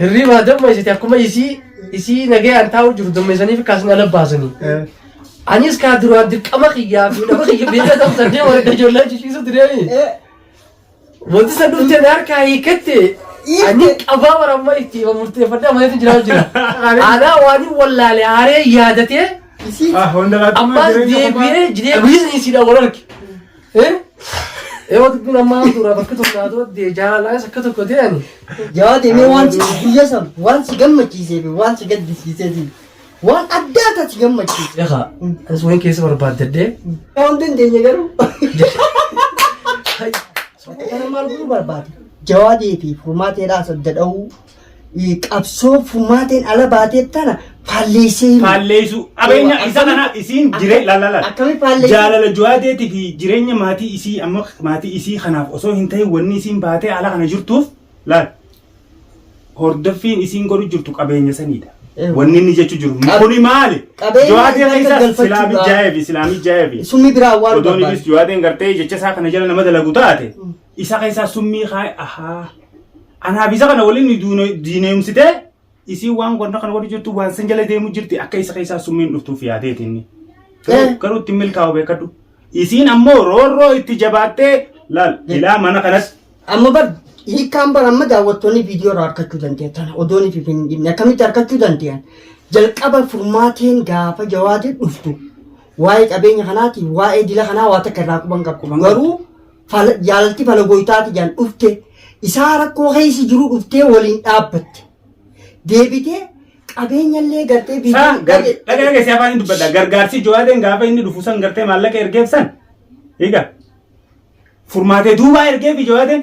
Hirriibaa dammaysite akkuma isii isii nagayaan taa'u jiru dammaysaniif kaasni ala baasanii. Anis kaa duraan dirqama kiyyaa fi nama kiyya beekaa ta'u saddeet warra ijoollee jijjiisu tureemi. Wanti san dhufte na harkaa hiikatte ani qabaa bara amma itti hima murteeffadhee amaleetu jiraa jira. Anaa waan hin wallaale haaree yaadatee Ah, hunda laatuma ammaas jireenya kophaa- deebi'ee jireenya biizinisiidhaan wal arge. Yoo dubbiin ammaa dura bakka tokko naa dooddee jaalalaas akka tokko ta'an. Yaa deemee waan si guyyaa san waan si gammachiisee fi waan si gaddisiisee fi waan addaa addaa si gammachiise. Egaa anis wayii keessa barbaaddadhee. Yaa hin dandeenye garuu. Kana maal godhuu barbaade? Jawaadee fi furmaateedhaa sadda dha'uu. qabsoo furmaateen ala baatee tana faalleessee himu. faalleessu qabeenya Eewa, isa kana akkamitti- isiin akka- jire lalala akkamitti faalleessu? jaalala juwaadeetii fi jireenya maatii isii amma maatii isii kanaaf osoo hin ta'in wanni isiin baatee ala kana jirtuuf laal hordoffiin isiin godhu jirtu qabeenya saniidha Eewa. wanni inni jechuu jiru Qab- kuni maali qabeenya juwaadee isa keessaa galfachuudha. silaamii jaayeefi silaamii jaayeefi Summii biraa awwaaluu Odoon barbaadu. ibis juwaadeen gartee jecha isaa kana jala nama dalagu taate isa keessaa summii kaa'e ahaa anaaf isa kana waliin nu duune- diineemsitee isiin waan gonna kana warri jirtu waan san jala deemu jirti akka isa keessaa summiin dhuftuuf yaadeeti inni. Garuu- Eh. Garuu ittiin milkaa'u beekadhu. Isiin ammoo roorroo itti jabaattee laal ilaa mana kanas Amma bar hiikaan bar amma daawwattoonni viidiyoo irraa harkachuu danda'an tana odoon fi hin dhibne akkamitti harkachuu danda'an jalqaba furmaateen gaafa jawaadii dhuftu waa'ee qabeenya kanaatiin waa'ee dila kanaa waa takka irraa quban qabu garuu fala- jaalalti fala gooytaati jaan dhufte isaa rakkoo keessa jiru dhuftee waliin dhaabbatte deebitee qabeenyallee gartee Saa biyya gar- dhagaa dhageessee afaan hin dubbadha. Gargaarsi Jowaadeen gaafa inni dhufu san gartee maallaqa ergeef san. Egaa furmaatee duubaa ergeef Jowaadeen.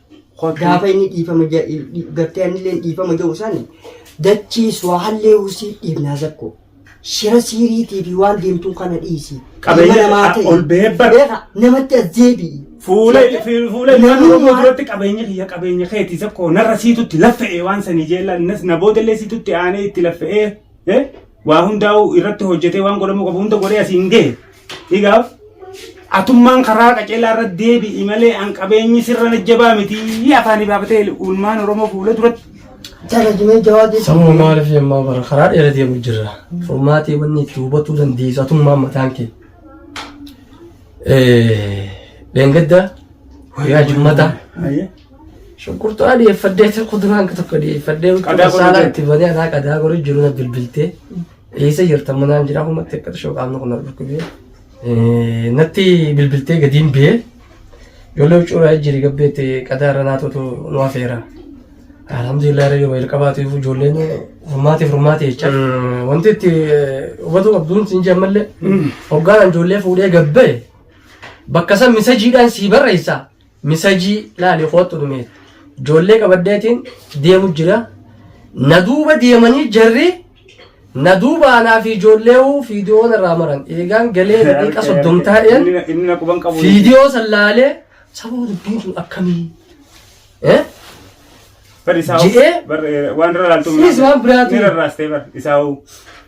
Gaafa inni dhiifama gartee anillee dhiifama jedhu sani dachii suwaallee husii dhiifnaa zakko. Shira siiriitii fi waan deemtuun kana dhiisi. Qabeenya Ilma namaa ta'e. ol bahee bar- Beeka namatti as deebi'i. Fuula Seeta- fuula ilmaan Namummaa- Oromoo duratti qabeenya kiyya qabeenya keeti isa koo narra siitutti laffa'ee waan sanii jeella innis na boodallee siitutti aanee itti laffa'ee eh, waa hundaa'u irratti hojjetee waan godhamuu qabu hunda godhee asiin gahe Higaaf atummaan karaa qaceelaa irra deebi'i malee an qabeenyi sirra najjabaa miti afaanii baafatee uulmaan Oromoo fuula duratti. Jala jimee jawaadii. Sababa maaliif yemmaa bara karaa dheera deemu jirra. Furmaatee wanni itti hubatuu dandeessu atummaan mataan kee. Dheengadda guyyaa jimmataa Ayyee. shunkurtaa dhiyeeffadhee kuduraan tokko dhiyeeffadhee Qadaa qorra saanaa jira. itti banee anaa qadaa qorri jiru na bilbiltee. Eessa jirta manaan jira kun natti akkata shoo qaamni kun na dhukkubee. Natti bilbiltee gadiin bee ijoollee huccuuraa jiri gabbeetti qadaa irra naatuutu nu hafeera. Alhamdulillah irra yooma jalqabaatu ifu ijoolleen furmaati furmaati jecha. Wanti itti hubatu qabduun siin jee ammallee hoggaan ijoollee fuudhee gabbee bakka san misajiidhaan sii barreessa Misajii laali koottu dhumee. Joollee qabadheetiin deemu jira. Na duuba deemanii jarri na duuba anaa fi ijoolleewu fiidiyoo narraa maran. Eegaan galee daqiiqa soddom taa'een Inni- Inni na quban qabu. fiidiyoo san laalee sababa dubbiin sun akkamii? Eh? Bar isaa hoo- Ji'ee- bar, eh, waan irra laaltu Sinis waan biraatu. ni rarraastee bar isaa hoo.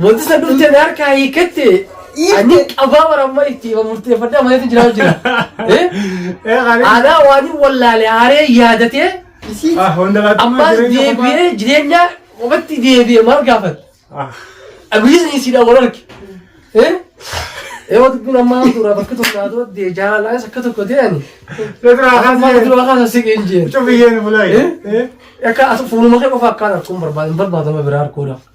Mootisa durte na harkaa hiikatte ani qabaa waramma itti hima murteeffadhee amaleetu jiraa jira. Eh? Anaa waan hin wallaale aaree yaadatee ammaas deebi'ee jireenya qofatti deebi'ee maal gaafata? Abiyyiis ni siidha wal arge. Eh? Yoo dubbiin ammaa suuraa bakka tokko naa dura dee jaalalaa isa akka tokko ta'e ani. Amma duraa kaasa siqeen jeen. Eh? Akka as fuuluma kee qofa akkaan arkuun barbaada hin barbaadama biraa arkuudhaaf.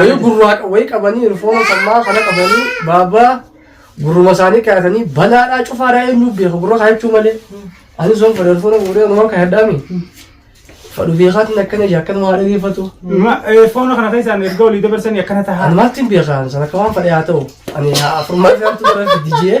Wayii gurraa wayii qabanii rifoona sammaa kana qabanii baabaa gurruma isaanii kaayatanii balaadhaa cufaadhaa eenyu beeka gurra kaayachuu malee. Ani sun fadha rifoona guuree nama kaayadhaami. Fadhu beekaatiin akkana jee akkana waa dhageeffatu. Foona kana keessaan erga olii dabarsanii akkana tahaa. Ani maaltiin beekaan sana akka waan fadhe haa ta'u. Ani haa afurmaa isaantu bara fidijee.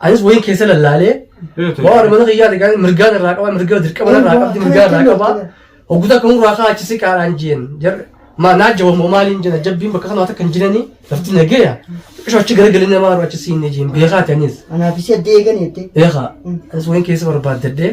Anis wayiin keessa lallaalee waan mana kiyyaa ta'e gaa'e mirgaan irraa qabaa mirga dirqama irraa qabdi mirgaa irraa qabaa hogguta akka murraa kaa achi siqaadhaan jeen jarri maa naa jabamoo maaliin jena jabbiin bakka kanaa takka hin jiranii lafti nageeya qisho achi garagalii namaa irraa achi siinne jeen beekaa ta'anis Anaaf isii adda eegan jettee. beekaa anis wayiin keessa barbaaddadhee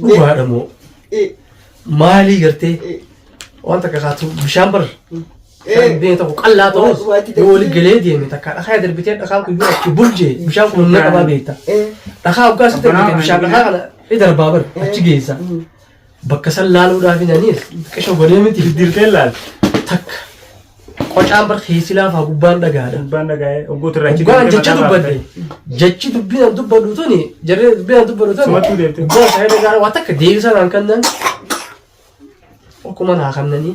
dhugaadha moo maalii gartee waan takka kaatu bishaan bar darbee tokko qallaa ta'us yoo wali galee deeme takka dhakaa darbitee dhakaa kun yoo achi burjee bishaan kun humna qabaa beekta dhakaa hoggaa sitti darbite bishaan dhakaa kana ni darbaa bar achi geessa Bakka san laaluudhaaf hin aniis xiqqisho godhee miti diddiirtee laal takka qocaan bar keessi laafaa gubbaan dhagaadha. Gubbaan dhagaa'ee ogguutu irraa Gubbaan jecha dubbadde jechi dubbiin an dubbadhu tuni jarri dubbiin an dubbadhu tuni Sumattuu deebite. gubbaan saayida gaara waa takka deebisaa naan kannan akkuma naa kannanii.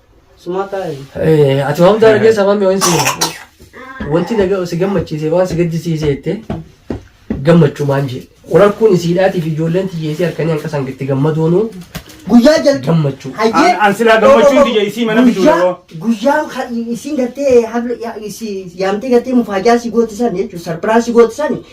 Sumaa taa'e. Eh, Ati waan hundaa argee sabaan mi'oon si wanti na ga- si gammachiise waan si gaddisiise jette gammachumaan jee. Wal harkuun isiidhaatiif ijoolleen tiyyeesii harkanii hanqa isaan itti gammadoonuu Guyyaa jalqaba. gammachuu. Hayyee. An- an silaa gammachuun tiyya isii mana bituu Guyyaa- yeroo. Guyyaa ka- isiin gartee habla- ya- isi- yaamtee gartee mufaajaa si gootisan jechuun sarbiraa si gootisan